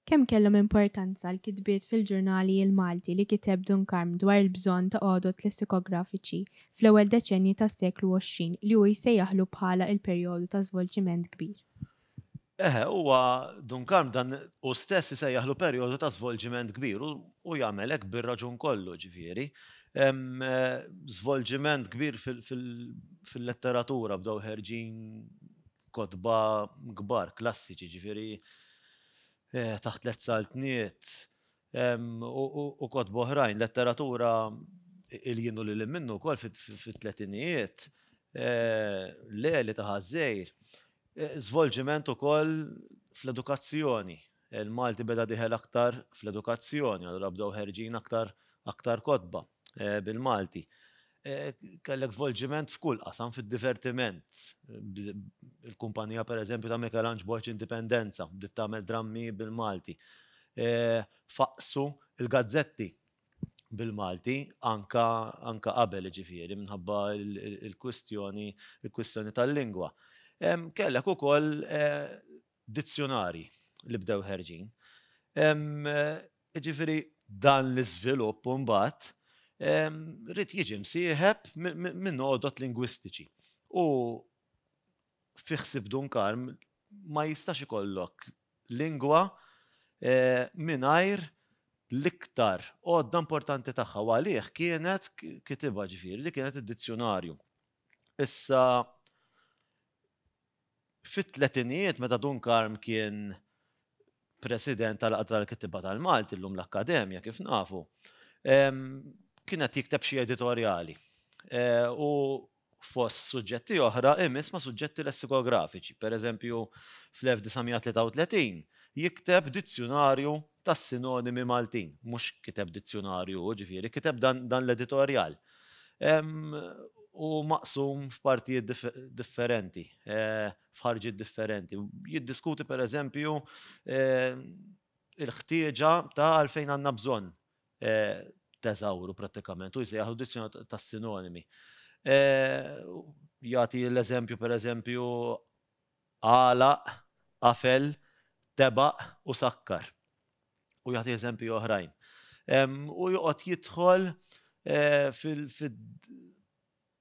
Kemm kellhom importanza l-kitbiet fil-ġurnali l-Malti li kiteb Dunkarm dwar il-bżonn ta' għodod lessikografiċi fl-ewwel deċennji tas-seklu 20 li hu jsejjaħlu bħala il-perjodu ta' żvolġiment kbir. Eħe, huwa, Dunkarm, dan hu stess isejjaħlu perjodu ta' żvolġiment kbir, u jagħmel hekk bir-raġun kollu, ġifieri. Hemm żvolġiment kbir fil-letteratura, bdew ħerġin kotba kbar, klassiċi, ġifieri, taħt l-ezzaltniet, u kotba oħrajn, letteratura il-jien u lil minnu wkoll fit-tletinijiet, Leli ta' Ħaż-Żgħir, żvolġiment ukoll fl-edukazzjoni. Il-Malti beda diħel aktar fl-edukazzjoni, allura bdew ħerġin aktar kotba bil-Malti. kellek svolġiment f'kull qasam fid-divertiment. Il-kumpanija pereżempju ta' Mikelanġ Borg Indipendenza bdiet tagħmel drammi bil-Malti. Faqqsu l-gazzetti bil-Malti anke qabel jiġifieri minħabba l-kwistjoni tal-lingwa. Kellek ukoll dizzjunarji li bdew ħerġin. Jiġifieri dan l-iżvilupp imbagħad ried jiġi msieħeb minn għodod lingwistiċi. U fi ħsieb Dun Karm ma jistax ikollok lingwa mingħajr l-iktar għodda importanti tagħha u għalih kienet kitibha ġifieri li kienet id-dizzjunarju. Issa Fit-tletinijiet meta Dun Karm kien President tal-Għaqda tal-Kittieba tal-Malti, llum l-Akkademja kif nafu, kien qed jikteb xi editorjali. U fost suġġetti oħra imiss ma' suġġetti lessikografiċi. Pereżempju, fl-1933 jikteb dizzjunarju tas-sinonimi Maltin. Mhux kiteb dizzjunarju hu, ġifieri, kiteb dan l-editorjal. U maqsum f'partijiet differenti, f'ħarġiet differenti. Jiddiskuti pereżempju l-ħtieġa ta' għalfejn għandna bżonn teżawru prattikament u jsejjaħlu dizzjunarju tas-sinonimi. Jagħti l-eżempju pereżempju għalaq, qafel, tebaq u sakkar. U jagħti eżempji oħrajn. U joqgħod jidħol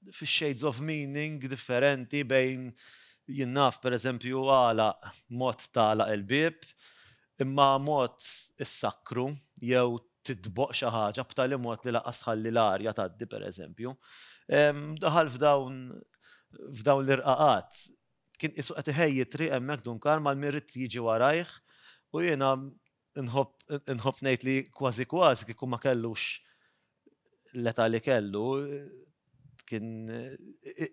fix-shades of meaning differenti bejn jien naf, per eżempju, għalaq, mod tagħlaq il-bieb, imma mod issakkru jew titboq xi ħaġa b'tali mod li lanqas tħalli l-arja tgħaddi, per eżempju. Daħal f'dawn l-irqaqat kien qisu qed iħejji triq hemmhekk Dunkar mal min rid jiġi warajh u jiena nħobb ngħid li kważi kważi kieku ma kellux l-età li kellu kien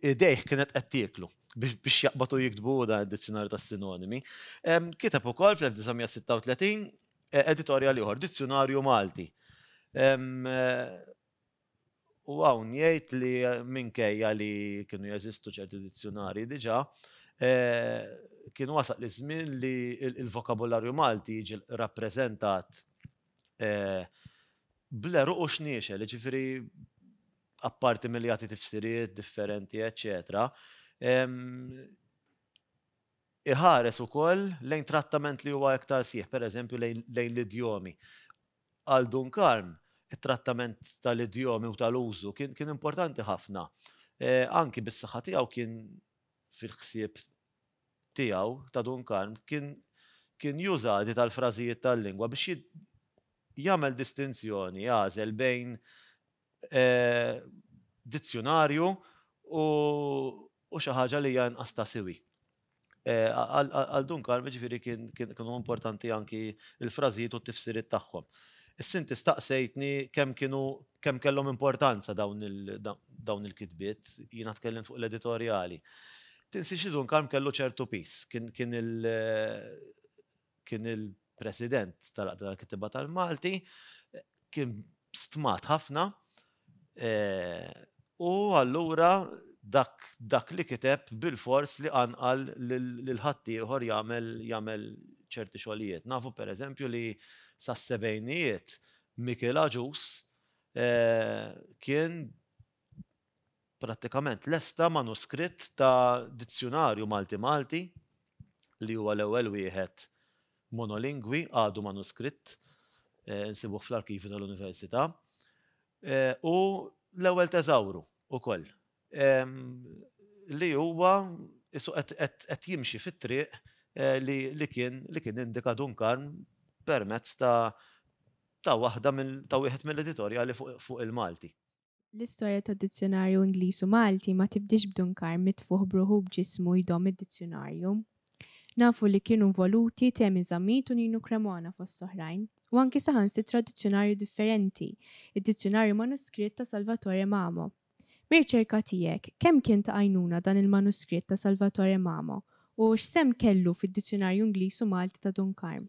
idejh kienet qed tieklu biex jaqbatu jiktbu dan id-dizzjonarju tas-sinonimi. Kiteb ukoll fl-1936 eh, editorjal ieħor, Dizzjonarju Malti. Eh, U hawn jgħid li minkejja li kienu jeżistu ċerti dizzjunarji diġà, kien wasal iż-żmien li l-vokabularju Malti jiġi rappreżentat bl-għeruq u x-xniexel, jiġifieri apparti milli jagħti tifsiriet differenti eċċetera, iħares ukoll lejn trattament li huwa iktar sħiħ, pereżempju lejn l-idjomi. Għal Dunkarn, it-trattament tal-idjomi u tal-użu kien kien importanti ħafna. Anki bis-saħħa tiegħu kien fil-ħsieb tiegħu ta' Dunkarn kien kien juża għadi tal-frażijiet tal-lingwa biex jagħmel distinzjoni, jagħżel bejn dizzjunarju u xi ħaġa li hija inqas ta' siwi. Għal Duncan, jiġifieri kienu importanti anki l-frażijiet u t-tifsiriet tagħhom. Is-Sinti staqsejtni kemm kienu kemm kellhom importanza dawn il-kitbiet, jiena tkellimt fuq l-editorjali. Tinsiex li Duncan kellu ċertu piż, kien kien il-President tal-Għaqda tal-Kittieba tal-Malti, kien stmat ħafna u allura dak li kiteb bilfors li qanqal lil ħaddieħor jagħmel ċerti xogħlijiet. Nafu pereżempju li sas-sebgħinijiet Mikiel Agius kien prattikament lesta manuskritt ta' dizzjunarju Malti-Malti li huwa l-ewwel wieħed monolingwi, għadu manuskritt, insibuh fl-arkivju tal-Università, u l-ewwel teżawru wkoll li huwa qisu qed jimxi fit-triq li kien li kien indika Dun Karm permezz ta' ta' waħda ta' wieħed mill-editorjali fuq il-Malti. L-istorja tad-dizzjunarju Ingliż u Malti ma tibdiex b'Duncar mitfugħ b'ruħu u b'ġismu jdomm id-dizzjunarju. Nafu li kienu nvoluti Temi Zammit u Ninu Cremona fost oħrajn, u anki saħansitra dizzjunarju differenti, id-dizzjunarju manuskritt ta' Salvatore Mamo. Mir-riċerka tiegħek, kemm kien ta' għajnuna dan il-manuskritt ta' Salvatore Mamo u x'sehem kellu fid-dizzjunarju Ingliż u Malti ta' Duncar?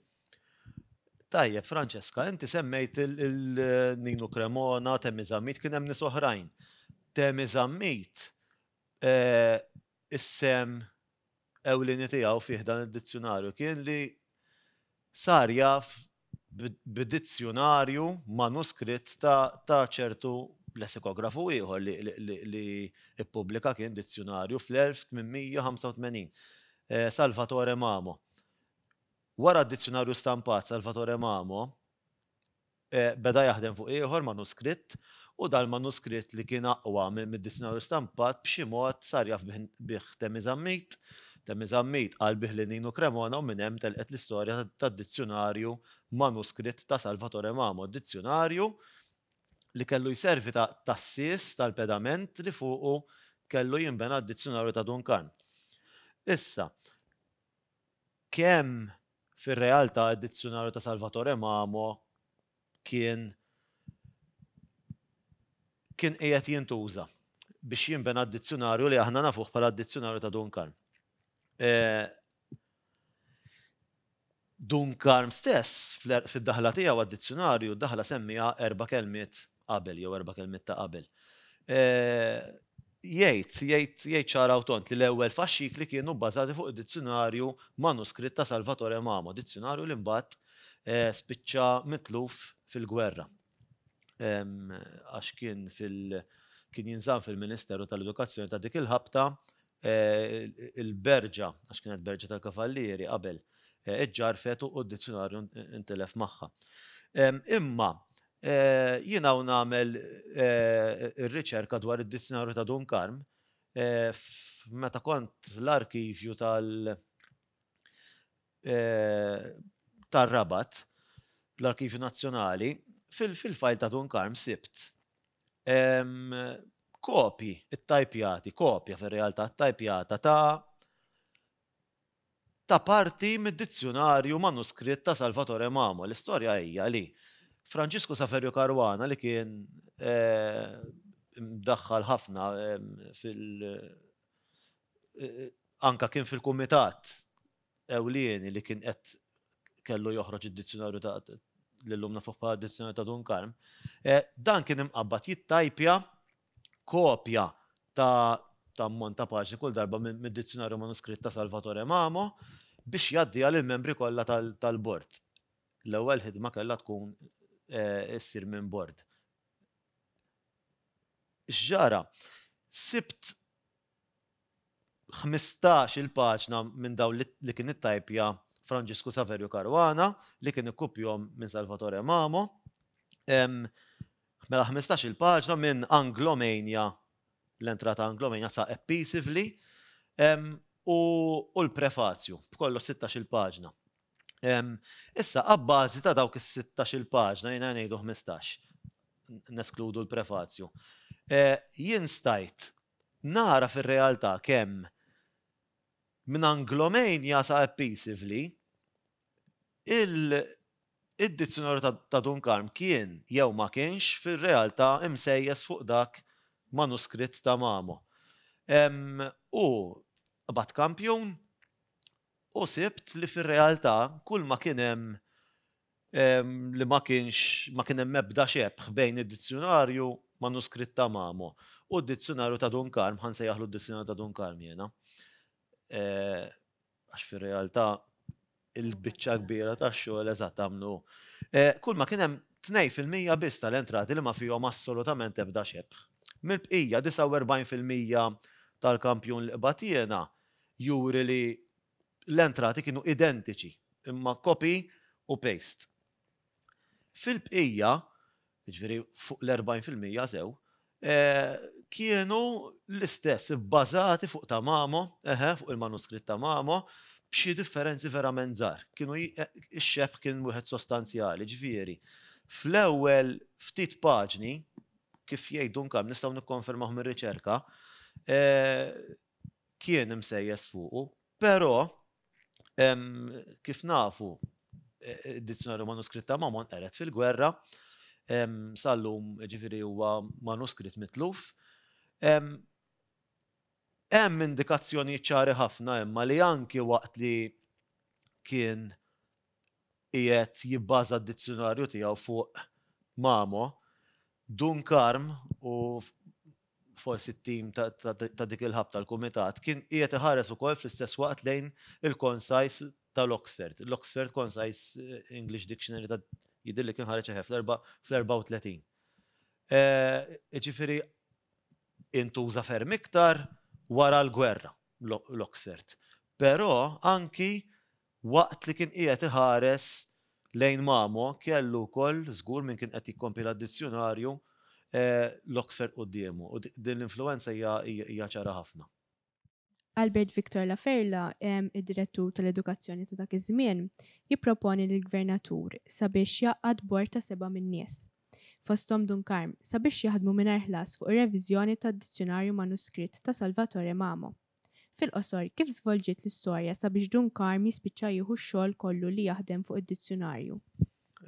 Tajjeb, Francesca, inti semmejt il-Ninu Cremona, Temi Zammit, kien hemm nies oħrajn. Temi Zammit, eh, is-sem ewlieni tiegħu fih dan id-dizzjunarju kien li sar jaf b'dizzjunarju manuskritt ta' ċertu lessikografu ieħor li ippubblika kien dizzjunarju fl-1885, eh, Salvatore Mamo. Wara d-dizzjunarju stampat Salvatore Mamo beda jaħdem fuq ieħor manuskritt u dal-manuskritt li kien aqwa mid-dizzjunarju stampat b'xi mod sar jaf bih Temmy Zammit. Temmy Zammit qal bih lil Ninu Cremona u minn hemm telqet l-istorja tad-dizzjunarju manuskritt ta' Salvatore Mamo, dizzjunarju li kellu jservi ta' tassies tal-pedament li fuqu kellu jinbena d-dizzjunarju ta' Dun Karm. Issa. Kemm fir-realtà d-Dizzjunarju ta' Salvatore Mamo kien kien qiegħed jintuża biex jinbena d-Dizzjunarju li aħna nafuh bħala d-Dizzjunarju ta' Dun Karm. Dun Karm stess, fid-daħla tiegħu għad-Dizzjunarju, d-daħla semmiha erba' kelmiet qabel jew erba' kelmiet ta' qabel. Jgħid, jgħid, jgħid ċara u tond li l-ewwel faxxikli kienu bbażati fuq id-dizzjunarju manuskritt ta' Salvatore Mamo, dizzjunarju li mbagħad spiċċa mitluf fil-gwerra għax kien fil-, kien jinżamm fil-Ministeru tal-Edukazzjoni ta' dik il-ħabta il-berġa, għax kienet berġa tal-kavallieri qabel, iġġarfet u d-dizzjunarju ntilef magħha. Imma jien hawn nagħmel ir-riċerka dwar id-dizzjunarju ta' Dun Karm meta kont l-arkivju tar-Rabat, l-Arkivju Nazzjonali, fil-fajl ta' Dun Karm sibt kopji ttajpjati, kopja fir-realtà ttajpjata ta' ta' parti mid-dizzjunarju manuskritt ta' Salvatore Mamo. L-istorja hija li Franġisku Saferju Caruana li kien imdaħħal ħafna fil- anka kien fil-kumitat ewlieni li kien qed kellu joħroġ id-dizzjunarju ta' li llum nafuh bħala d-Dizzjunarju ta' Dun Karm, dan kien imqabbad jittajpja kopja ta' ta' ammont ta' paġni kull darba mid-Dizzjunarju Manuskritt ta' Salvatore Mamo biex jgħaddiha lill-membri kollha tal-Bord. L-ewwel ħidma kellha tkun issir minn Bord. X'ġara? Sibt ħmistax-il paġna minn dawn li kien ittajpja Franġisku Saverju Caruana li kien ikkupjhom minn Salvatore Mamo. Mela ħmistax-il paġna minn Anglomania, l-entrata ta' Anglomania sa Eppeasively, u l-prefazju, b'kollox sittax-il paġna. Issa, abbażi ta' dawk is-sittax-il paġna, jiena ngħidu ħmistax, neskludu l-prefazju, jien stajt Nagħraf ir-realtà kemm minn Anglomania sa Appeasively, il-Dizzjonarju ta' Dun Karm kien jew ma kienx fir-realtà imsejjes fuq dak manuskritt ta' Mamo. U qbadt kampjun u sibt li fir-realtà kulma kien hemm li ma kienx ma kien hemm ebda xebħ bejn id-dizzjunarju manuskritt ta' Mamo u d-dizzjunarju ta' Dun Karm, ħa nsejjaħlu d-dizzjunarju ta' Dun Karm jiena, għax fir-realtà il-biċċa kbira tax-xogħol eżatt għamlu. Kulma kien hemm tnejn fil-mija biss tal-entrati li ma fihom assolutament ebda xebħ. Mill-bqija, 49 fil-mija tal-kampjun li qbadt jiena juri li l-entrati kienu identiċi, imma copy u paste. Fil-bqija, jiġifieri fuq l-40 fil-mija sew, kienu l-istess, ibbażati fuq ta' Mamo, eħe, fuq il-manuskritt ta' Mamo, b'xi differenzi verament żgħar. Kienu, ix-xebh kien wieħed sostanzjali, jiġifieri fl-ewwel ftit paġni, kif jgħid Dun Karm, nistgħu nikkonfermawh mir-riċerka, kien imsejjes fuqu, però kif nafu id-Dizzjonarju Manuskritt ta' Mormon qered fil-gwerra, sal-lum ġifieri huwa manuskritt mitluf. Hemm indikazzjonijiet ċari ħafna imma li anki waqt li kien qiegħed jibbaża d-dizzjunarju tiegħu fuq Mamo, Dun Karm u forsi t-tim ta' dik il-hub tal-Kumitat, kien qiegħed iħares ukoll fl-istess waqt lejn il-Concise tal-Oxford, l-Oxford Concise English Dictionary ta' jidhirli kien ħareġ eħe fl-34. Jiġifieri intuża ferm iktar wara l-gwerra l-Oxford. Però anki Waqt li kien qiegħed iħares lejn Mamo, kellu wkoll, żgur min kien qed jikkompila d-dizzjunarju, l-Oxford quddiemu, u din l-influwenza hija ċara ħafna. Albert Victor La Ferla, id-Direttur tal-Edukazzjoni ta' dak iż-żmien, jipproponi lill-Gvernatur sabiex jgħaqqad bord ta' seba' minn nies, fosthom Dun Karm, sabiex jaħdmu mingħajr ħlas fuq ir-reviżjoni tad-dizzjunarju manuskritt ta' Salvatore Mamo. Fil-qosor, kif żvolġiet l-istorja sabiex Dun Karm jispiċċa jieħu x-xogħol kollu li jaħdem fuq id-dizzjunarju?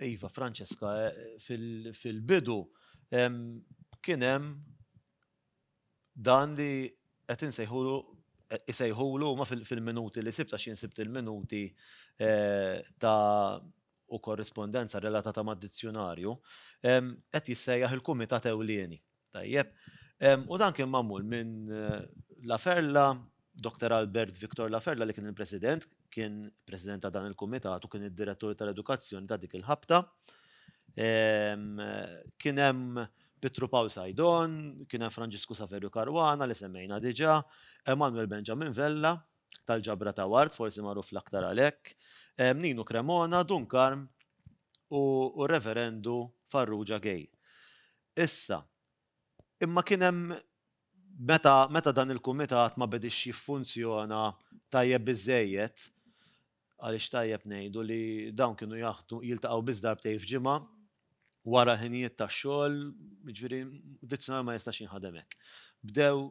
Iva, Francesca, fil-bidu kien hemm dan li qed insejħulu isejħulu ma fil-minuti li sibta xi nsibt il-minuti eh, ta' u korrispondenza relatata ma' dizzjonarju, qed jissejjaħ il-Kumitat Ewlieni. Tajjeb. U dan kien magħmul minn La Ferla, Dr. Albert Victor La Ferla li kien il-President, kien President ta' dan il-Kumitat u kien id-Direttur tal-Edukazzjoni ta' dik il-ħabta. Kien hemm Pietru Pawl Sajdon, kien hemm Franġisku Saverju Caruana li semmejna diġà, Emmanuel Benjamin Vella tal-ġabra ta' Ward, forsi magħruf l-aktar għalhekk, Ninu Cremona, Dun Karm u r-Reverendu Farrugia Gay. Issa, imma kien hemm meta meta dan il-kumitat ma bediex jiffunzjona tajjeb biżżejjed, għaliex tajjeb ngħidu li dawn kienu jaħdmu jiltaqgħu biss darbtejn f'ġimgħa wara l-ħinijiet tax-xogħol, jiġifieri dizzjonarju ma jistax jinħadem hekk. Bdew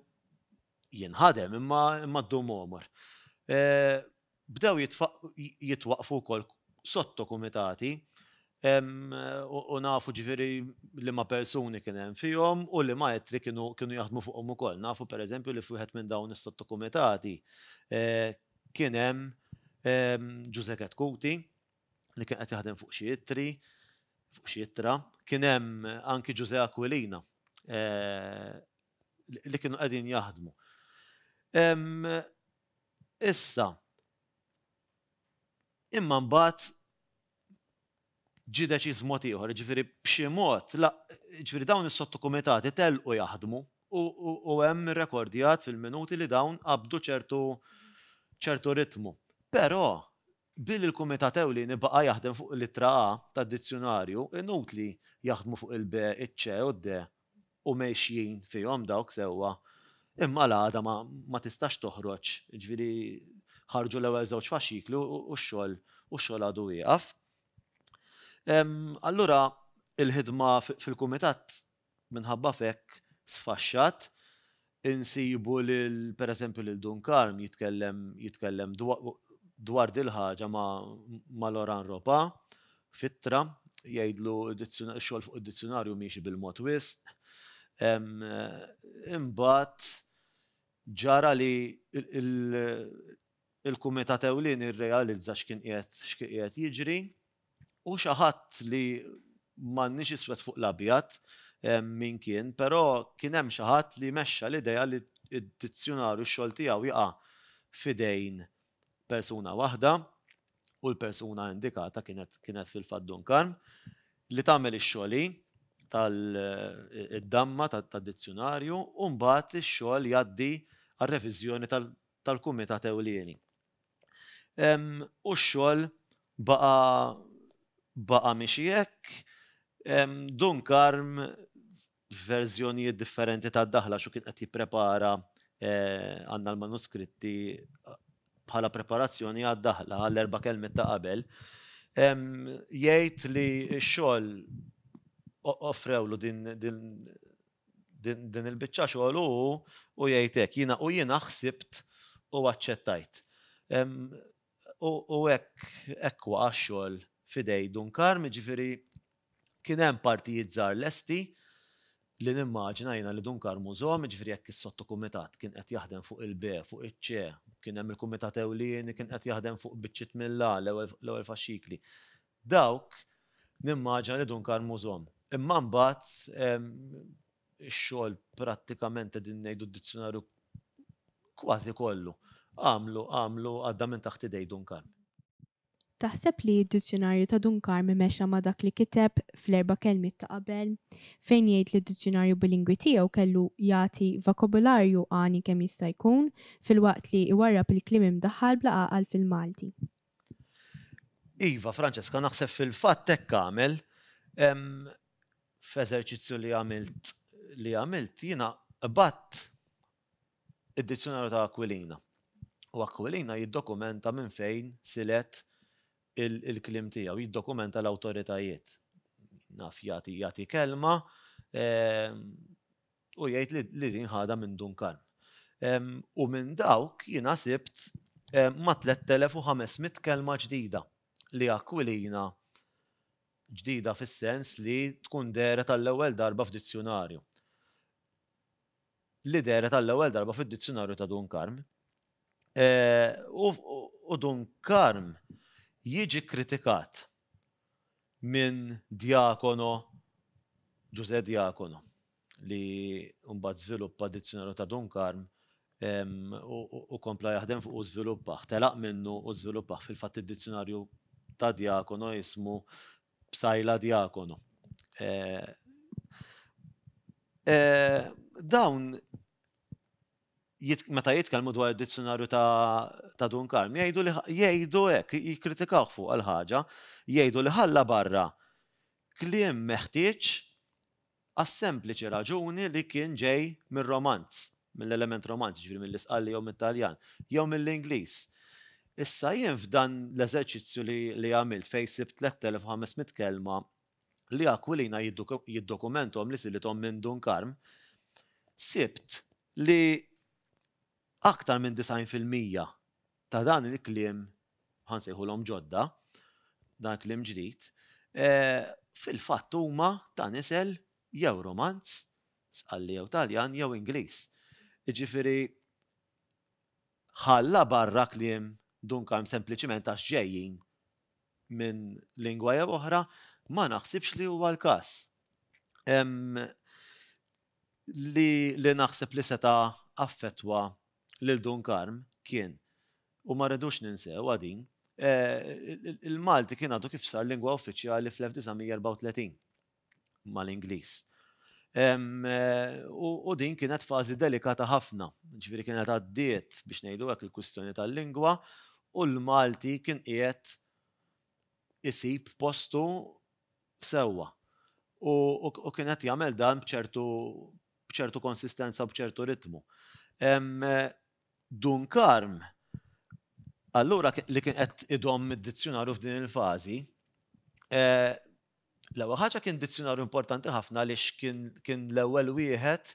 jinħadem imma imma ddum għomor. Bdew jitwaqqfu wkoll sottokumitati u nafu ġifieri liema persuni kien hemm fihom u liema ittri kienu jaħdmu fuqhom ukoll. Nafu pereżempju li f'wieħed minn dawn is-sottokumitati kien hemm Ġużè Ketkuti li kien qed jaħdem fuq xi ittri, fuq xi ittra. Kien hemm anki Ġużè Aquilina li kienu qegħdin jaħdmu. Issa, imma mbagħad ġie deċiż mod ieħor, jiġifieri b'xi mod, la, jiġifieri dawn is-sottokumitati telqu jaħdmu u hemm irrekordjat fil-minuti li dawn qabdu ċertu ċertu ritmu. Però, billi l-kumitat ewlieni baqa' jaħdem fuq l-ittra A tad-dizzjunarju, inutli jaħdmu fuq il-B, iċ-C u d-D u mexjin fihom dawk sewwa, imma l-għada ma tistax toħroġ, jiġifieri ħarġu l-ewwel żewġ faxxikli u x-xogħol u x-xogħol għadu wieqaf. Allura l-ħidma fil-kumitat minħabba f'hekk sfaxxat, Insibu lil, per eżempju, lil Dun Karm jitkellem jitkellem dwar dil-ħaġa ma' ma' Laurent Ropa f'ittra, jgħidlu x-xogħol fuq id-dizzjunarju miexi bil-mod wisq. Imbagħad ġara li il-kumitat ewlieni rrealizza x'kien qiegħed x'kien qiegħed jiġri u xi ħadd li m'għandniex iswed fuq l-abjad min kien, però kien hemm xi ħadd li mexxa l-idea li d-dizzjunarju x-xogħol tiegħu jaqa' f'idejn persuna waħda u l-persuna indikata kienet kienet fil-fatt Dun Karm li tagħmel ix-xogħol hi tal id-damma tad-dizzjunarju u mbagħad ix-xogħol jgħaddi għar-reviżjoni tal-Kumitat Ewlieni. U x-xogħol baqa' baqa' miexi hekk. Dun Karm f'verżjonijiet differenti tad-daħla x'hu kien qed jipprepara għandna l-manuskritti bħala preparazzjoni għad-daħla għall-erba' kelmiet ta' qabel jgħid li x-xogħol offrewlu din Din il-biċċa xogħol u hu jgħid hekk, jiena u jiena ħsibt u aċċettajt. U hekk hekk waqa' x-xogħol f'idej Dun Karm, jiġifieri kien hemm partijiet żgħar lesti li nimmaġina jiena li Dun Karm użhom, jiġifieri jekk is-sottokumitat kien qed jaħdem fuq il-B, fuq iċ-C, kien hemm il-kumitat ewlieni kien qed jaħdem fuq biċċiet mill-A, l-ewwel faxxikli. Dawk, nimmaġina li Dun Karmu żomm. Imma mbagħad ix-xogħol prattikament qegħdin ngħidu d-dizzjunarju kważi kollu għamlu għamlu għadda minn taħt idej Dun Karm. Taħseb li d-dizzjunarju ta' Dun Karm mexxa ma' dak li kiteb fl-erba' kelmiet ta' qabel, fejn jgħid li d-dizzjunarju bilingwi tiegħu kellu jagħti vakobularju għani kemm jista' jkun, filwaqt li jwarrab il-kliem imdaħħal bla għaqal fil-Malti? Iva, Francesca, naħseb fil-fatt hekk għamel. F'eżerċizzju li għamilt li għamilt jiena qbadt id-Dizzjonarju ta' Aquilina. U Aquilina jiddokumenta minn fejn silet il-kliem tiegħu, jiddokumenta l-awtoritajiet. Naf jagħti kelma, U jgħid li din ħadha minn Dun Karm. U minn dawk jiena sibt ma' 3,500 kelma ġdida li Aquilina, ġdida fis-sens li tkun dehret għall-ewwel darba f'dizzjunarju, li dehret għall-ewwel darba fid-dizzjunarju ta' Dun Karm. U Dun Karm jiġi kkritikat minn Diacono, Ġużè Diacono, li mbagħad żviluppa d-Dizzjonarju ta' Dun Karm u kompla jaħdem fuqu u żviluppah, telaq minnu u żviluppah. Fil-fatt id-Dizzjonarju ta' Diacono ismu Psaila Diacono. Dawn meta jitkellmu dwar id-dizzjonarju ta' Dun Karm, jgħidu li jgħidu hekk, jikkritikaw fuq għal ħaġa, jgħidu li ħalla barra kliem meħtieġ għas-sempliċi raġuni li kien ġej mir-Romanz, mill-element Romanz, jiġifieri mill-Isqalli jew mit-Taljan, jew mill-Ingliż. Issa jien f'dan l-eżerċizzju li għamilt fejn sibt 3,500 kelma li Aquilina jiddokumenthom li silithom minn Dun Karm, sibt li aktar minn 90 fil-mija ta' dan il-kliem, ħa nsejħulhom ġodda, dan il-kliem ġdid, fil-fatt huma ta' nisel jew Romanz, Sqalli jew Taljan jew Ingliż. Jiġifieri ħalla barra kliem Dun Karm sempliċiment għax ġejjin minn lingwa jew oħra, ma naħsibx li huwa l-każ. Li naħseb li seta' affettwa lil Dun Karm kien, u ma rridux ninsewha din, il-Malti kien għadu kif sar lingwa uffiċjali fl-1934. mal-Ingliż. U din kienet fażi delikata ħafna, ġifieri kienet għaddiet biex ngħidu hekk il-kwistjoni tal-lingwa u l-Malti kien qiegħed isib postu sewwa. U kien qed jagħmel dan b'ċertu konsistenza u b'ċertu ritmu. Dun Karm allura li kien qed idomm id-dizzjunarju f'din il-fażi, L-ewwel ħaġa kien dizzjunarju importanti ħafna għaliex kien l-ewwel wieħed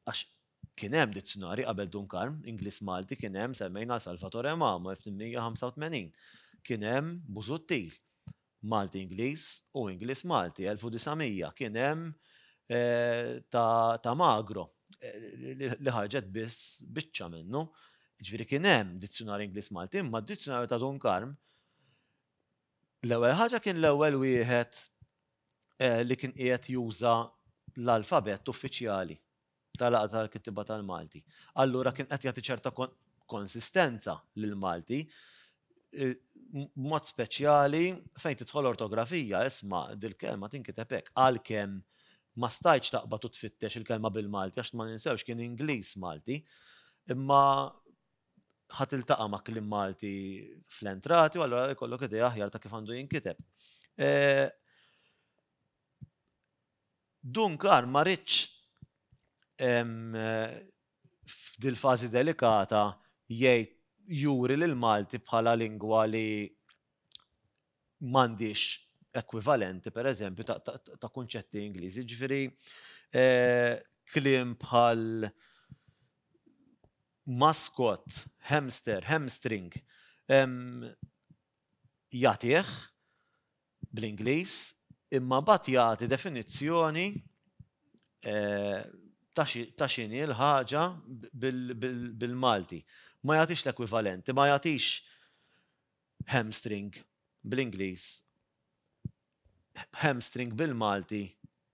għax kien hemm dizzjunari qabel Dunkarm, Ingliż Malti kien hemm semmejna Salvatore Mamo 1885, kien hemm Busuttil, Malti Ingliż u Ingliż Malti 1900, kien hemm eh, ta' Magro eh, li ħarġet biss biċċa minnu. Ġifieri kien hemm dizzjunari Ingliż Malti, imma d-dizzjunarju ta' Dunkarm L-ewwel ħaġa kien l-ewwel wieħed li kien qiegħed juża l-alfabett uffiċjali tal-Għaqda tal-Kittieba tal-Malti. Allura kien qed jagħti ċerta konsistenza lill-Malti b'mod speċjali fejn tidħol ortografija isma' dil-kelma tinkiteb hekk għalkemm ma stajtx taqbad u tfittex il-kelma bil-Malti għax ma ninsewx kien Ingliż Malti. Imma ħa tiltaqa' ma' kliem Malti fl-entrati u allura jkollok idea aħjar ta' kif għandu jinkiteb. Eh, Dunkar ma rridx eh, f'dil fażi delikata jgħid juri lil Malti bħala lingwa li m'għandix ekwivalenti per eżempju ta' kunċetti Ingliżi. Ġifieri eh, kliem bħal maskott, hamster, hamstring, jagħtih bl-Ingliż imma mbagħad jagħti definizzjoni ta' x'inhi l-ħaġa bil-Malti. Ma jagħtix l-ekwivalenti, ma jagħtix Hamstring, bl-Ingliż, hamstring bil-Malti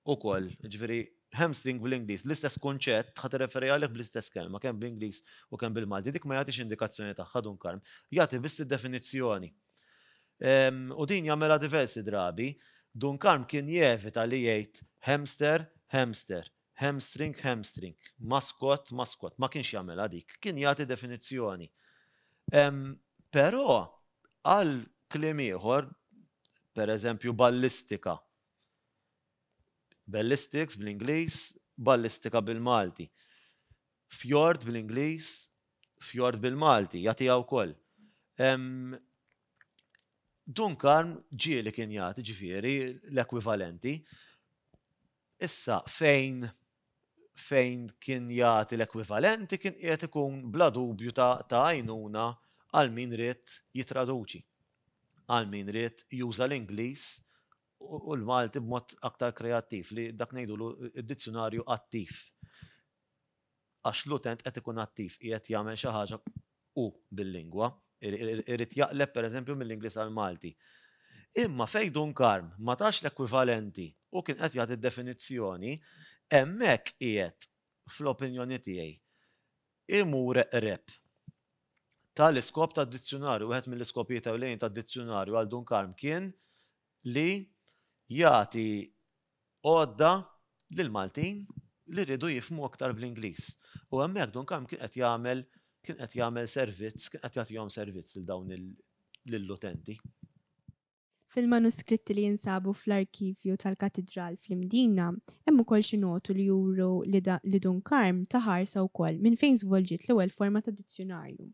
ukoll, jiġifieri hamstring bl-Ingliż, l-istess kunċett ħa tirreferi għalih bl-istess kelma, kemm bl-Ingliż u kemm bil-Malti. Dik ma jagħtix indikazzjoni tagħha, Dun Karm, jagħti biss id-definizzjoni. U din jagħmilha diversi drabi. Dun Karm kien jevita li jgħid hamster, hamster, Hamstring, hamstring. Maskott, maskott. Ma kienx jagħmilha dik. Kien jagħti definizzjoni. Però għal kliem ieħor, per eżempju ballistika. Ballistics bl-Ingliż, ballistika bil-Malti. Fjord bl-Ingliż, fjord bil-Malti, jagħtiha wkoll. Dunkarn ġieli kien jagħti ġifieri l-ekwivalenti. Issa, fejn fejn kien jagħti l-ekwivalenti kien qiegħed ikun bla dubju ta' ta' għajnuna għal min ried jittraduċi, għal min ried juża l-Ingliż u l-Malti b'mod aktar kreattiv, li dak ngħidulu d-dizzjunarju attiv. għax l-utent qed ikun attiv, qiegħed jagħmel xi ħaġa hu bil-lingwa, irid jaqleb pereżempju mill-Ingliż għall-Malti. Imma fejn Dun Karm ma tax l-ekwivalenti u kien qed jagħti d-definizzjoni, hemmhekk qiegħed, fl-opinjoni tiegħi, imur eqreb tal-iskop tad-dizzjunarju. Wieħed mill-iskopijiet ewlenin tad-dizzjunarju għal Dun Karm kien li jagħti għodda lill-Maltin li riedu jifhmu aktar bl-Ingliż. U hemmhekk Dun Karm kien qed jagħmel kien qed jagħmel servizz, kien qed jagħtihom servizz lil dawn il lill-utenti. Fil-manuskritti li jinsabu fl-arkivju tal-Katidral fl-Imdina hemm ukoll xi notu li juru li li Dun Karm ta ħarsa wkoll minn fejn żvolġiet l-ewwel forma ta' dizzjunarju.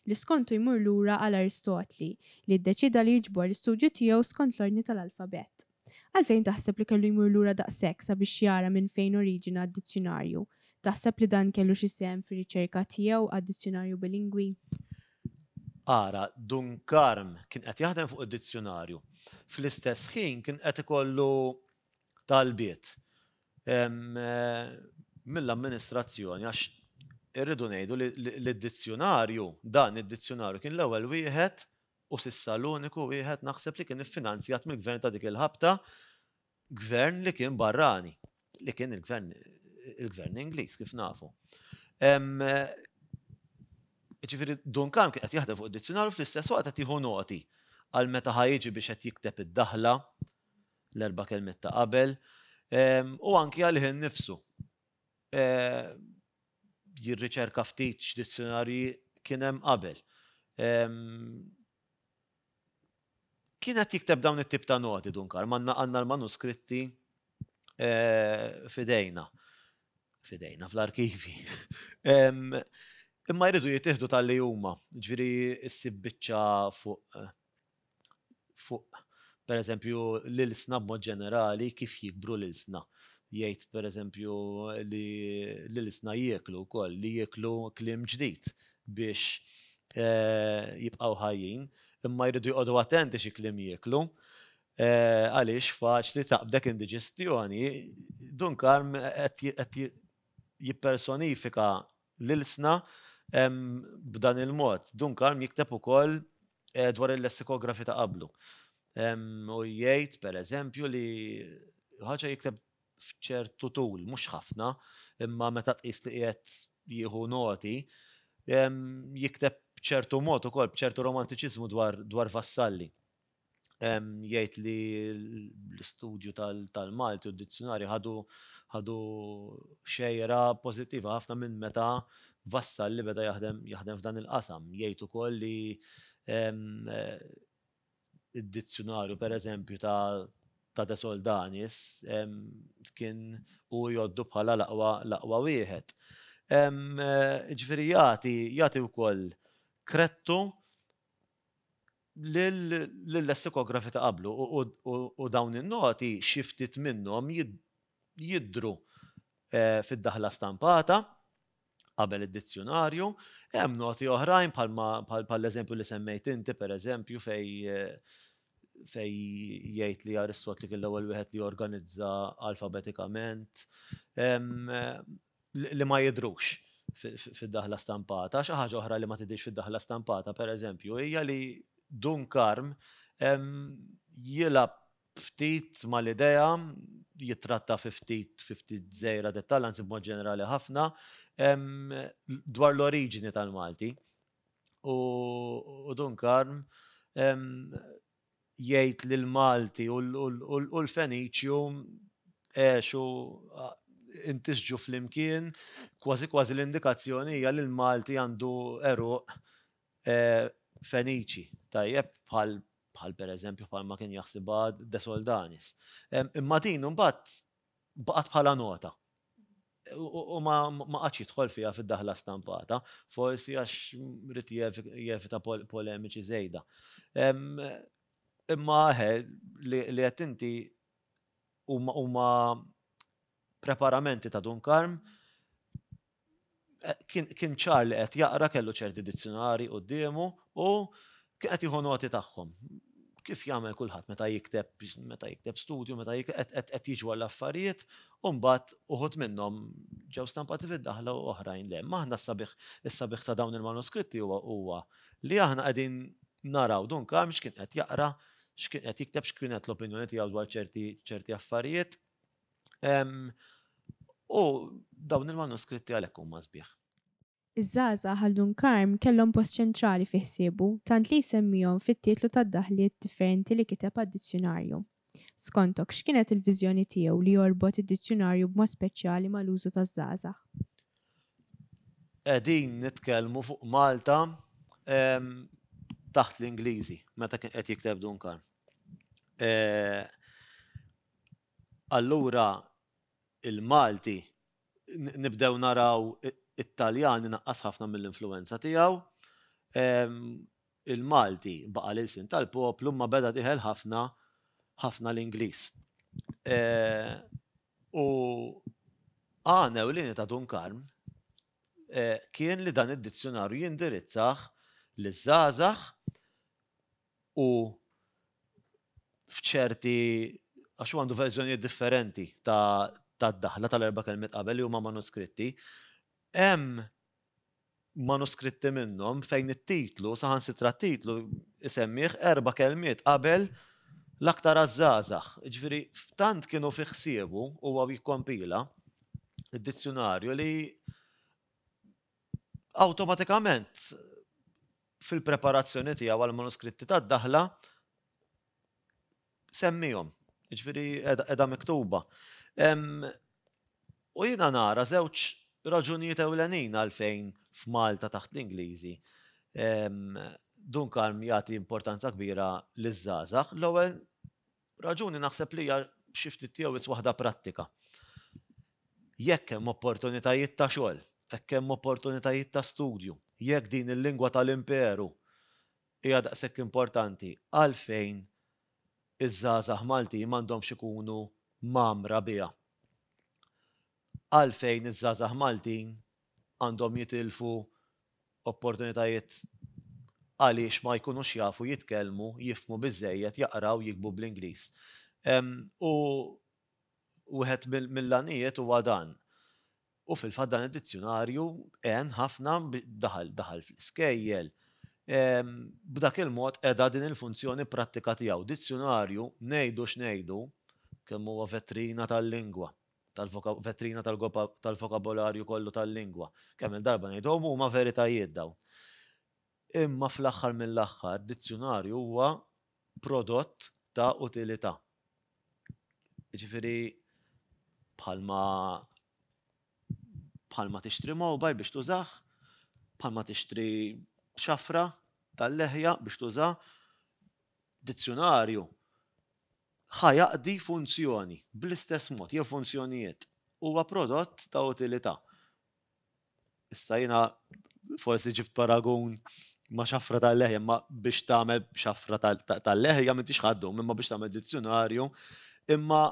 li skontu jmur lura għal Aristotli, li ddeċieda li jiġbor l-istudju tiegħu skont l-ordni tal-alfabett. Għalfejn taħseb li kellu jmur lura daqshekk sabiex jara minn fejn oriġina d-dizzjunarju? Taħseb li dan kellu xi sehem fir-riċerka tiegħu għad-dizzjunarju bilingwi? Ara, Dun Karm kien qed jaħdem fuq id-dizzjunarju. Fl-istess ħin kien qed ikollu talbiet mill-amministrazzjoni għax irridu ngħidu li l-dizzjunarju, dan id-dizzjunarju kien l-ewwel wieħed u sissa l-uniku wieħed naħseb li kien iffinanzjat mill-gvern ta' dik il-ħabta, gvern li kien barrani, li kien il-gvern il-gvern Ingliż kif nafu. Ġifieri Dunkan kien qed jaħdem fuq id-dizzjunarju fl-istess waqt qed jieħu noti għal meta ħajġi biex qed jikteb id-daħla l-erba' kelmiet ta' qabel, u anki għalih innifsu. Jirriċerka ftit x'dizzjunarji kien hemm qabel. Kien qed jikteb dawn it-tip ta' noti Dun Karm, għandna l-manuskritti f'idejna, f'idejna, fl-arkivi. Imma jridu jittieħdu talli huma, jiġifieri ssib biċċa fuq fuq pereżempju l-ilsna b'mod ġenerali kif jikbru l-ilsna. Jgħid pereżempju li l-ilsna jieklu wkoll, li jieklu kliem ġdid biex jibqgħu ħajjin, imma jridu joqogħdu attenti xi kliem jieklu għaliex faċli taqbdek indiġestjoni. Dun Karm qed jippersonifika l-ilsna b'dan il-mod. Dunkalm jikteb ukoll dwar il-lessikografi ta' qablu. U jgħid, per eżempju, li ħaġa jikteb f'ċertu tul, mhux ħafna, imma meta tqis li qiegħed jieħu noti, jikteb b'ċertu mod ukoll, b'ċertu romantiċiżmu dwar vassalli. jgħid li l-istudju tal-Malti u d-dizzjonarju ħadu xejra pożittiva ħafna minn meta Vassal li beda jaħdem jaħdem f'dan il-qasam. Jgħid ukoll li d-dizzjonarju pereżempju ta' ta' De Soldanis kien hu jgħoddu bħala l-aqwa l-aqwa wieħed. Jiġifieri jagħti jagħti wkoll kredtu lill-lessikografi ta' qablu u dawn in-noti xi ftit minnhom jidhru fid-daħla stampata qabel id-dizzjunarju. Hemm noti oħrajn bħall-eżempju li semmejt inti, pereżempju, fejn jgħid li Aristotli kien l-ewwel wieħed li organizza alfabetikament. li ma jidhrux fid-daħla stampata. Xi ħaġa oħra li ma tidhirx fid-daħla stampata, pereżempju, hija li Dun Karm jilgħab ftit mal-idea, jittratta fi ftit fi ftit żgħira dettall, anzi b'mod ġenerali ħafna, dwar l-oriġini tal-Malti. U Dun Karm jgħid li l-Malti u l-Feniċju għexu intisġu flimkien, kważi kważi l-indikazzjoni hija li l-Malti għandu għeruq Feniċi, tajjeb, bħal bħal pereżempju bħalma kien jaħsibha De Soldanis. Imma din imbagħad baqgħet bħala nota. U ma qatx jidħol fiha fid-daħla stampata, forsi għax rrid jevita polemiċi żejda. Imma eħe li qed inti huma preparamenti ta' Dun Karm kien ċar li qed jaqra kellu ċerti dizzjunari quddiemu u kien qed jieħu noti tagħhom. Kif jagħmel kulħadd meta jikteb meta jikteb studju, meta qed jiġu għall-affarijiet, u mbagħad uħud minnhom ġew stampati fid-daħla u oħrajn le. Maħna s-sabiħ is-sabiħ ta' dawn il-manuskritti huwa huwa li aħna qegħdin naraw dun kam x'kien qed jaqra, x'kien qed jikteb, x'kienet l-opinjoni tiegħu dwar ċerti affarijiet, U dawn il-manuskritti għalhekk huma sbieħ. Iż-żgħażagħ għal Dun Karm kellhom post ċentrali fi ħsiebu, tant li jsemmihom fit-titlu tad-daħliet differenti li kiteb għad-dizzjunarju. Skontok, x'kienet il-viżjoni tiegħu li jorbot id-dizzjunarju b'mod speċjali mal-użu taż-żgħażagħ? Qegħdin nitkellmu fuq Malta taħt l-Ingliżi, meta kien qed jikteb Dun Karm. Allura il-Malti nibdew naraw it-Taljan inaqqas ħafna mill-influwenza tiegħu. Il-Malti baqa' l-ilsien tal-poplu imma beda dieħel ħafna ħafna l-Ingliż. U għan ewlieni ta' Dun Karm kien li dan id-dizzjunarju jindirizzah liż-żgħażagħ u f'ċerti għax hu għandu verżjonijiet differenti ta' tad-daħla tal-erba' kelmiet qabel li huma manuskritti, hemm manuskritti minnhom fejn it-titlu, saħansitra t-titlu isemmih erba' kelmiet qabel l-aktar għaż-żgħażagħ. Ġifieri tant kienu fi ħsiebu huwa jikkompila d-dizzjunarju li awtomatikament fil-preparazzjoni tiegħu għall-manuskritti tad-daħla semmihom, jiġifieri qiegħda miktuba. U jiena nara żewġ raġunijiet ewlenin għalfejn f'Malta taħt l-Ingliżi Dunkarm jagħti importanza kbira liż-żgħażagħ. L-ewwel Raġuni naħseb li hija xi ftit jew wis waħda prattika. Jekk hemm opportunitajiet ta' xogħol, jekk hemm opportunitajiet ta' studju, jekk din il-lingwa tal-imperu hija daqshekk importanti, għalfejn iż-żgħażagħ Maltin m'għandhomx ikunu mgħammra biha? Għalfejn iż-żgħażagħ Maltin għandhom jitilfu opportunitajiet għaliex ma jkunux jafu jitkellmu, jifhmu biżżejjed, jaqraw, jiktbu bl-Ingliż. U wieħed mill-għanijiet huwa dan. U fil-fatt dan id-dizzjunarju għen ħafna, daħal, daħal fl-iskejjel. B'dak il-mod qeda din il-funzjoni prattika tiegħu. Dizzjunarju, ngħidu x'ngħidu, kemm huwa vetrina tal-lingwa. tal-vetrina tal-goppa tal-vokabolarju kollu tal-lingwa. Kemm il-darba ngħiduhom huma veritajiet dawn. Imma fl-aħħar mill-aħħar dizzjunarju huwa prodott ta' utilità. Jiġifieri bħalma bħalma tixtri mobile biex tużah, bħalma tixtri xafra tal-leħja biex tużaha, dizzjunarju ħa jaqdi funzjoni bl-istess mod, jew funzjonijiet. Huwa prodott ta' utilità. Issa jiena forsi ġibt paragun ma' xafra tal-leħja, ma biex tagħmel xafra tal-leħja m'intix ħaddu, imma biex tagħmel dizzjonarju, imma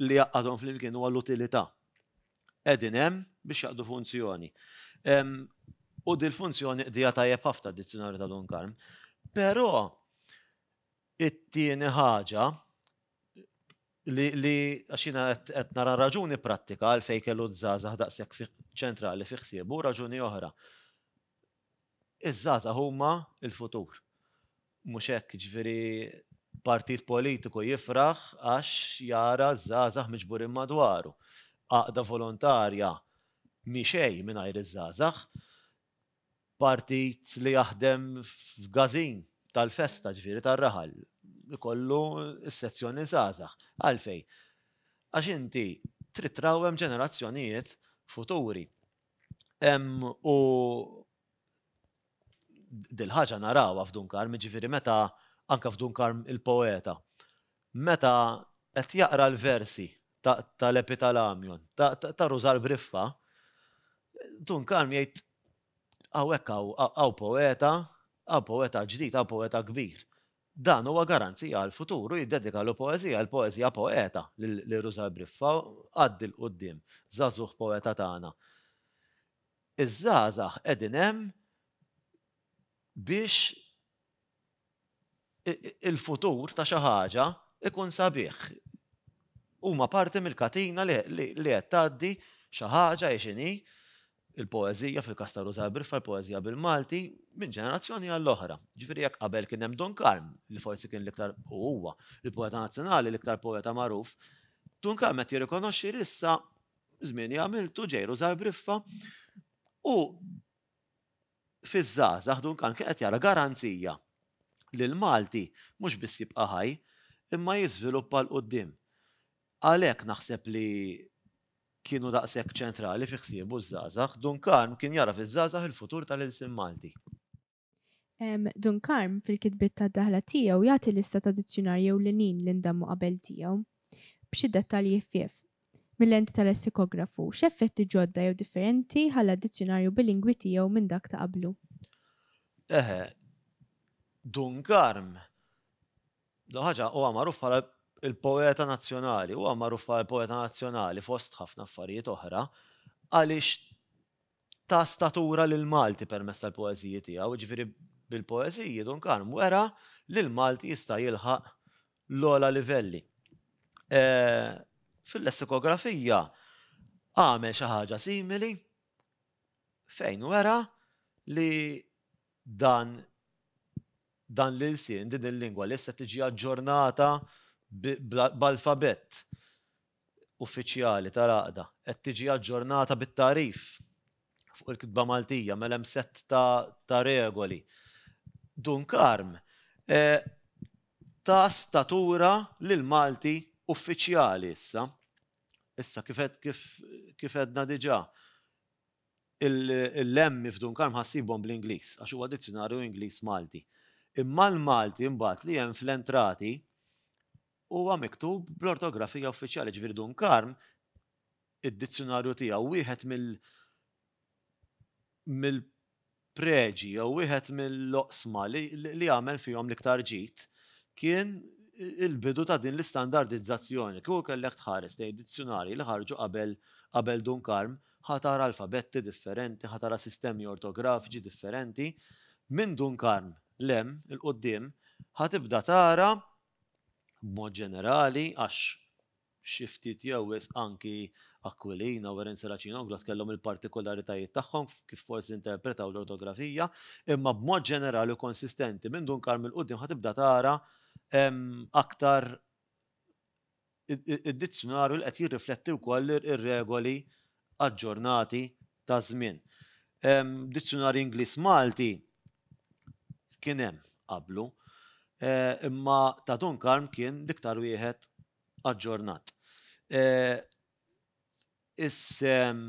li jaqqadhom flimkien huwa l-utilità. Qegħdin hemm biex jaqdu funzjoni. U dil-funzjoni qdija tajjeb ħafna d-dizzjonarju ta' Dun Karm. Però It-tieni ħaġa, li, li, għax jiena qed, qed nara raġuni prattika għalfejn kellu ż-żgħażagħ daqshekk fi, ċentrali fi ħsiebu, u raġuni oħra. Iż-żgħażagħ huma l-futur. Mhux hekk, jiġifieri partit politiku jifraħ għax jara ż-żgħażagħ miġburin madwaru. Għaqda volontarja mhi xejn mingħajr iż-żgħażagħ. Partit li jaħdem f'gażin tal-festa, ġifieri tar-raħal, ikollu s-sezzjoni żgħażagħ. Għalfejn? Għax inti trid trawwem ġenerazzjonijiet futuri. U dil-ħaġa narawha f'Dun Karm, jiġifieri meta anke f'Dun Karm il-poeta meta qed jaqra l-versi tal-epitalamjon, ta' Rużal Briffa, Tun Kalm jgħid hawnhekk hawn poeta, hawn poeta ġdid, hawn poeta kbir. Dan huwa garanzija għall-futur u jiddedika l poeżija, il-poeżija poeta lil Rużal Briffa, għaddi 'l quddiem, żagħżugħ poeta tagħna. Iż-żgħażagħ qegħdin hemm biex il-futur ta' xi ħaġa ikun sabiħ. Huma parti mill-katina li qed tgħaddi xi ħaġa hi x'inhi, il-poeżija fil-każ ta' Ruża Briffa, il-poeżija bil-Malti, minn ġenerazzjoni għall-oħra. Ġifieri jekk qabel kien hemm Dun Karm, li forsi kien l-iktar u huwa il-poeta nazzjonali, l-iktar poeta magħruf, Dun Karm qed jirrikonoxxi li issa żmieni għamiltu ġej Ruża Briffa u fiż-żgħażagħ Duncan kien qed jara garanzija li l-Malti mhux biss jibqa' ħaj imma jiżviluppa 'l quddiem. Għalhekk naħseb li kienu daqshekk ċentrali fi ħsiebu ż-żgħażagħ. Duncan kien jara fiż-żgħażagħ il-futur tal-ilsien Malti. Duncan fil-kitbiet tad-daħla tiegħu jagħti lista ta' dizzjunarji ewlenin li ndammu qabel tiegħu. b'xi dettalji ħfief, mil-lenti tal-essikografu, x'effetti ġodda jew differenti ħalla d-dizzjunarju bilingwi tiegħu minn dak ta' qablu? Eħe. Dun Karm, l-ewwel ħaġa, huwa magħruf bħala l-poeta nazzjonali, huwa magħruf bħala l-poeta nazzjonali fost ħafna affarijiet oħra, għaliex ta' statura lil Malti permezz tal-poeżiji tiegħu, jiġifieri bil-poeżiji Dun Karm wera li l-Malti jista' jilħaq l-ogħla livelli. Fil-lessikografija għamel xi ħaġa simili fejn wera li dan dan l-ilsien, din il-lingwa li issa tiġi aġġornata b'alfabett uffiċjali tal-Għaqda qed tiġi aġġornata bit-tagħrif fuq il-kitba Maltija, mela hemm sett ta' regoli. Dun Karm ta statura lill-Malti uffiċjali issa. Issa kif għedna diġà, il-lemmi f'Dun Karm ħa ssibhom bl-Ingliż għax huwa dizzjunarju Ingliż-Malti. Imma l-Malti mbagħad li hemm fl-entrati Huwa miktub bl-ortografija uffiċjali, ġifieri Dun Karm, id-dizzjunarju tiegħu, wieħed mill, mill-preġi jew wieħed mill-oqsma li, li għamel fihom l-iktar ġid kien il-bidu ta' din l-istandardizzazzjoni. Kieku kellek tħares lejn id-dizzjunarji li ħarġu qabel, qabel Dun Karm, ħa tara alfabetti differenti, ħa tara sistemi ortografiċi differenti. Minn Dun Karm 'l hemm, 'il quddiem, ħa tibda tara b'mod ġenerali għax xi ftit jew wisq anki Aquilina u Irene Serracina u Glott kellhom il-partikularitajiet tagħhom f'kif forsi interpretaw l-ortografija, imma b'mod ġenerali u konsistenti minn Dun Karm 'il quddiem ħa tibda tara aktar id-dizzjunarju li qed jirrifletti wkoll ir-regoli aġġornati taż-żmien. Dizzjunarju Ingliż Malti kien hemm qablu, imma ta' Dunkarm kien l-iktar wieħed aġġornat. Is-sehem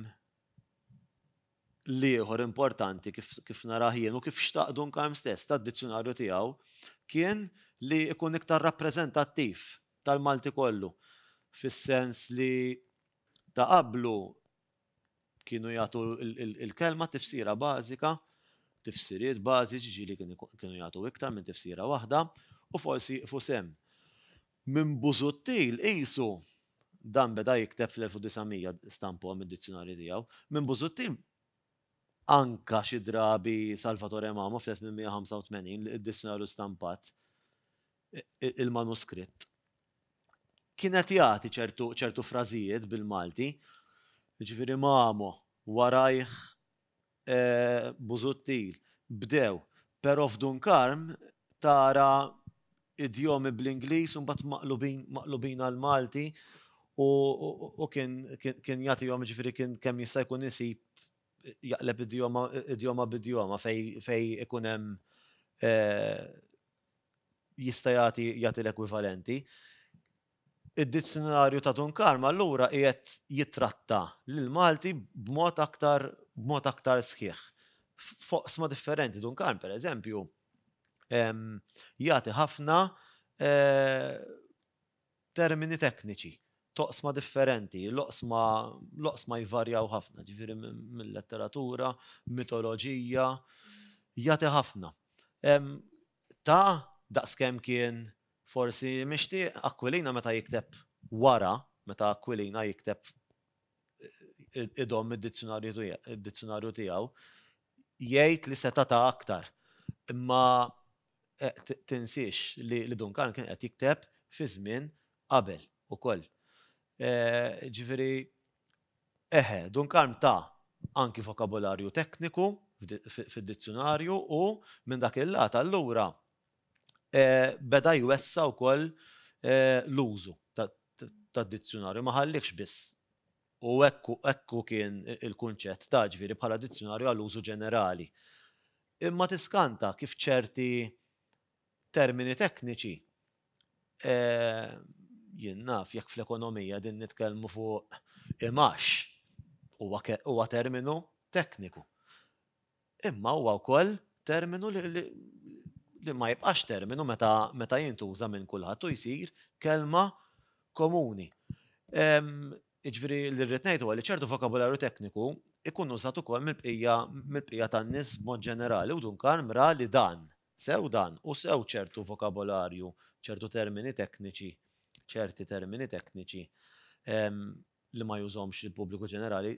l-ieħor importanti, kif narah jien u kif xtaq Duncan stess, tad-dizzjunarju tiegħu kien li jkun iktar rappreżentattiv tal-Malti kollu, fis-sens li ta' qablu kienu jagħtu l-kelma tifsira bażika, tifsiriet bażiċi, ġieli kienu jagħtu iktar minn tifsira waħda, u forsi jieqfu sehem. Minn Busuttil qisu, dan beda jikteb fl-1900, stampuha mid-dizzjunarji tiegħu, minn Busuttil anka xi drabi Salvatore Mamo fl-1885 li id-dizzjunarju stampat, il-manuskritt, kien qed jagħti ċertu frażijiet bil-Malti, jiġifieri Mamo, warajh Busuttil, bdew, pero f'Dun Karm tara idjomi bl-Ingliż u mbagħad maqlubin maqlubin għall-Malti u u kien kien jagħtihom jiġifieri kien kemm jista' jkun isib jaqleb idjoma idjoma b'idjoma fejn fejn ikun hemm jista' jagħti jagħti l-ekwivalenti. Id-Dizzjunarju ta' Dun Karm allura qiegħed jittratta lill-Malti b'mod aktar b'mod aktar sħiħ f'oqsma differenti. Dun Karm, pereżempju, jagħti ħafna termini tekniċi t'oqsma differenti. L-oqsma l-oqsma jvarjaw ħafna, jiġifieri mil-letteratura, mitoloġija, jagħti ħafna. Ta' daqskemm kien Forsi mixtieq Aquilina meta jikteb wara, meta Aquilina jikteb idomm id-dizzjunarju tiegħu, jgħid li seta' ta aktar. Imma tinsiex li Duncan kien qed jikteb fi żmien qabel ukoll. Ġifieri, eħe, Duncan ta anki vokabularju tekniku fid-dizzjunarju u minn dak il-lat allura beda jwessa' wkoll l-użu tad-dizzjunarju, ma ħalliehx biss u hekk hekk hu kien il-kunċett ta' ġifieri bħala dizzjunarju għal użu ġenerali. Imma tiskanta kif ċerti termini tekniċi jien naf jekk fl-ekonomija qegħdin nitkellmu fuq imgħax huwa huwa terminu tekniku. Imma huwa wkoll terminu li ma jibqax terminu meta jintuża minn kulħadd u jsir kelma komuni. Jiġifieri li rrid ngħid huwa li ċertu vokabularju tekniku jkun użat ukoll mill-bqija tan-nies b'mod ġenerali u Dun Karm ra li dan, sew dan u sew ċertu vokabularju, ċertu termini tekniċi, ċerti termini tekniċi li ma jużhomx il-pubbliku ġenerali,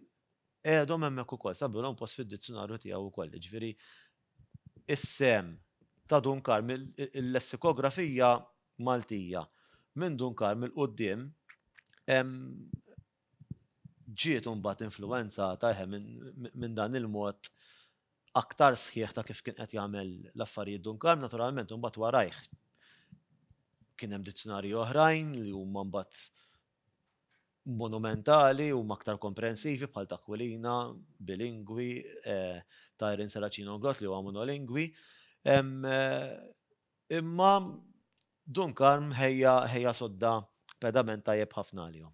qegħedhom hemmhekk ukoll, sabilhom post fid-dizzjunarju tiegħu wkoll. Jiġifieri is-sehem ta' Dun Karm, il-lessikografija Maltija minn Dun Karm 'il quddiem ġiet imbagħad influwenzata eħe minn dan il-mod aktar sħiħ ta' kif kien qed jagħmel l-affarijiet Dun Karm, naturalment imbagħad warajh kien hemm dizzjunarji oħrajn li huma mbagħad monumentali huma aktar komprensivi bħal t'Aquilina, bilingwi, ta' Irene Serracino-Grott li huwa monolingwi. Imma Dun Karm ħejja ħejja sodda pedament tajjeb ħafna għalihom.